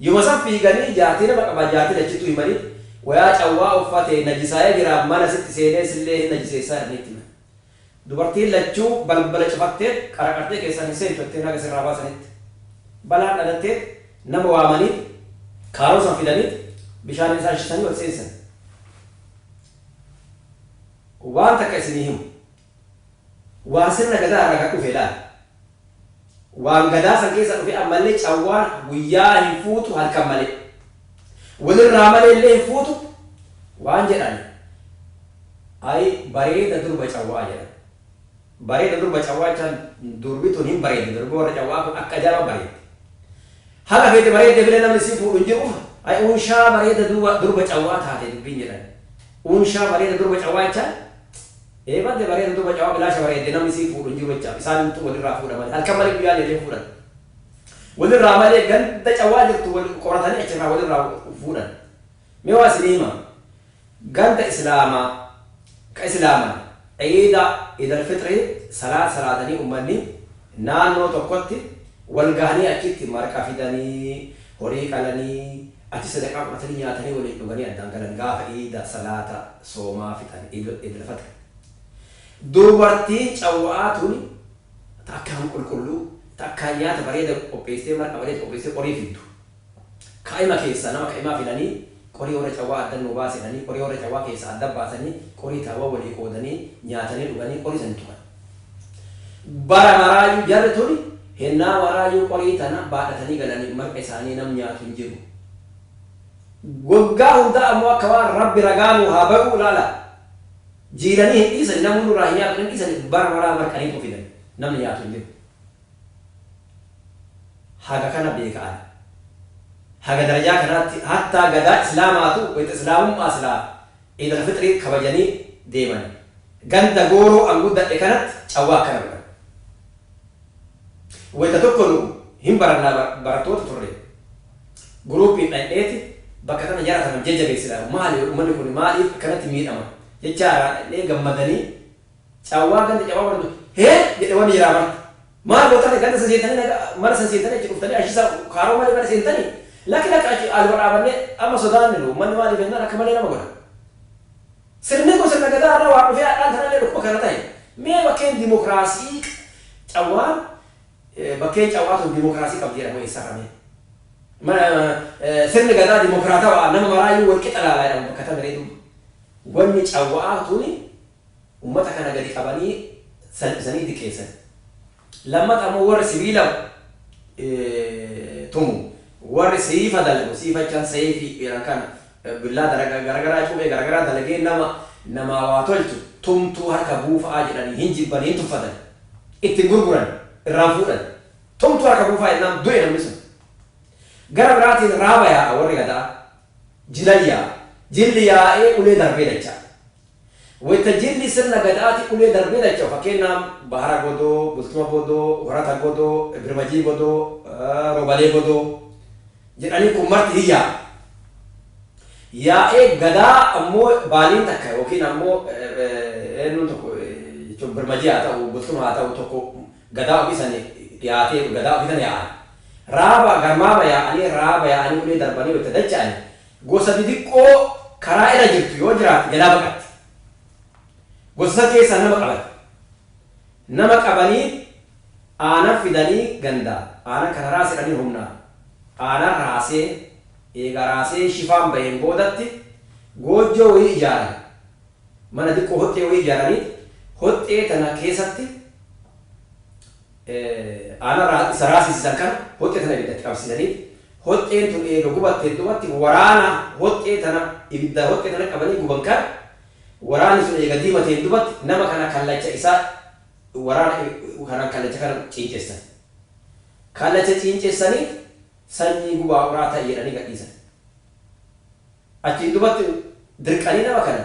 Yoma san fiiganii jaartii nama qabaa jaartii lachittuu himanii wayaa cawwaa uffatee najisaayee jiraa mana sitti seenee sillee hin najiseessaa jedhanii itti himan. Dubartiin lachuu balbala cufatteet qaraqartee keessaan hin seentu jetteen haga sirraa baasanitti. Balaan dhalatteet nama waamaniit kaaroo san fidaniit bishaaniin isaan shisanii ol seensan. Waan takka isinii himu. Waan sirna Gadaa irraa gad dhufe ilaali. Waan Gadaa san keessa dhufe ammallee cawwaan guyyaa hin fuutu halkan malee. Walirraa malee illee hin fuutu waan jedhan Ayi bareeda durba cawwaa jedhan. Bareeda durba cawwaa jechaan durbi tun hin bareeddi durbi warra cawwaa kun akka ajaa'iba bareeddi. Haga feete bareeddee filee namni isii fuudhu hin jiru Ayi unshaa bareeda durba cawwaa taate dubbiin jedhan. Unshaa bareeda durba cawwaa jechaan. Ee badde bareedu too macawa bilaasha bareedde namni sii fuudhu hin jiru jecha isaanumtu walirraa fuudha malee halkan malee guyyaa deemee hin fuudhan walirraa malee ganda cawaa jirtu wal qoratanii achirraa walirraa fuudhan mee waa isinii hima ganda islaamaa ka islaaman iida idal fixrii salaata salaatanii ummanni naannoo tokkotti wal gahanii achitti marqa fidanii horii qalanii Ati sadaqaa fudhatanii nyaatanii waliin dhuganii addaan galan gaafa iida salaata soomaa fixan idlfaxri dubartiin cawwa'aa tuni ta akkaan qulqulluu ta akkaan nyaata bareeda qopheessitee marqa bareeda qopheessitee qorii fiddu kaa'ima keessaa nama ka'imaa filanii qorii warra cawwaa addan nuu baasi jedhanii qorii warra cawwaa keessaa adda baasanii qorii taawwa walii qoodanii nyaatanii dhuganii qorii sani tuqan Bara maraayu jarri tuni hennaa waraayuu qorii tana baadhatanii galaniif marqa isaanii nam nyaatu hin jiru. Woggaa hundaa ammoo akka waan Rabbi ragaa nuu haa bayuu ilaala jiilanii hin dhiisani namuu nurraa hin nyaatu hin dhiisani bara maraa marqaniituma fidan namni nyaatu hin jiru. Haga kana beeka ani. Haga darajaa kanaatti hattaa gadaa islaamaatu wayta islaamummaa silaa Iid Alfixrii kabajanii deeman. Ganda Gooroo an guddadhe kanatti cawwaa akkana godhan. Wayta tokko nu hin barannaa bar barattoota turre. Guruupiin dhayxeeti bakka tana jara tana jajjabeessina. Maali ummanni kuni maaliif akkanatti miidhama jechaa irraa dhayxee gammadanii. Cawwaa ganda cawwaa martu hee jedhe wani jiraa marti maal gotani ganda san sentani naga mana san sentani achi dhuftani achi sa kaaroo male mana sentani laki laki achi aluma dhaabane amma sodaanne nu ummanni maalif ennaan akka malee nama godha sirni kun sirna gadaa irraa waan dhufee hadhaan tanallee dhukkuba kana tahe mee bakkeen dimokraasii cawwaan bakkeen cawwaa tun dimokraasii qabdi jedhamu eessarra mee ma sirni gadaa dimokraatawa nama maraayyuu wal qixa laala jedhamu bakka tami ree duuba wanni cawwaa tuni Ummata kana gadi qabanii salphisanii diqeessan. Lammata ammoo warri sibiila tumu, warri siifa dalagu, siifa jechaan seeyfii kana billaa garagaraa cubee garagaraa dalagee nama namaa waa tolchu tumtuu harka buufa'aa jedhanii hin jibban hin tuffatan. Itti hin gurguran, irraan fuudhan. Tumtuu harka buufaa jennaan du'e namni sun. Gara biraatiin raaba yaa'a warri gada'aa. Jilan yaa'a. Jilli yaa'ee ulee darbee dacha'a. Wayta jilli sirna Gadaatii ulee darbee dacha'u, fakkeennaaf, Bahara Godoo, Bultuma Godoo, Horata Godoo, Birmajii Godoo, Roobalee Godoo jedhanii kun marti ni yaa'a. Yaa'ee Gadaa ammoo baaliin takka yookiin ammoo eennuun tokko jechuun Birmajii haa ta'u, Bultuma haa ta'u tokko Gadaa ofii san dhiyaatee Gadaa ofii tana yaa'an. Raaba, garmaama yaa'anii, raaba yaa'anii ulee darbanii wayta dacha'ani Gosa didiqqoo karaa irra jirtu yoo jiraate jalaa baqatti. Gosa san keessaa nama qaban. Nama qabanii aana fidanii ganda aana kana raasi jedhanii humnaan aana raasee eega raasee shifaan baheen boodatti goojjoo wayii ijaaran. Mana diqqoo hoxxee wayii ijaaranii hoxxee tana keessatti Aanaraa isa raasisisan kana hoxxee tana ibiddatti qabsiisanii hoxxeen tun eega gubatteen duubatti waraana hoxxee tana ibidda hoxxee tana qabanii guban kana waraanni sun eega diimateen duubatti nama kana kallacha isaa waraana kanaan kallacha kana ciincessan. Kallacha ciincessaniit sanyii gubaa'uraa ta'i jedhanii gadhiisan. Achiin duubatti dirqanii nama kana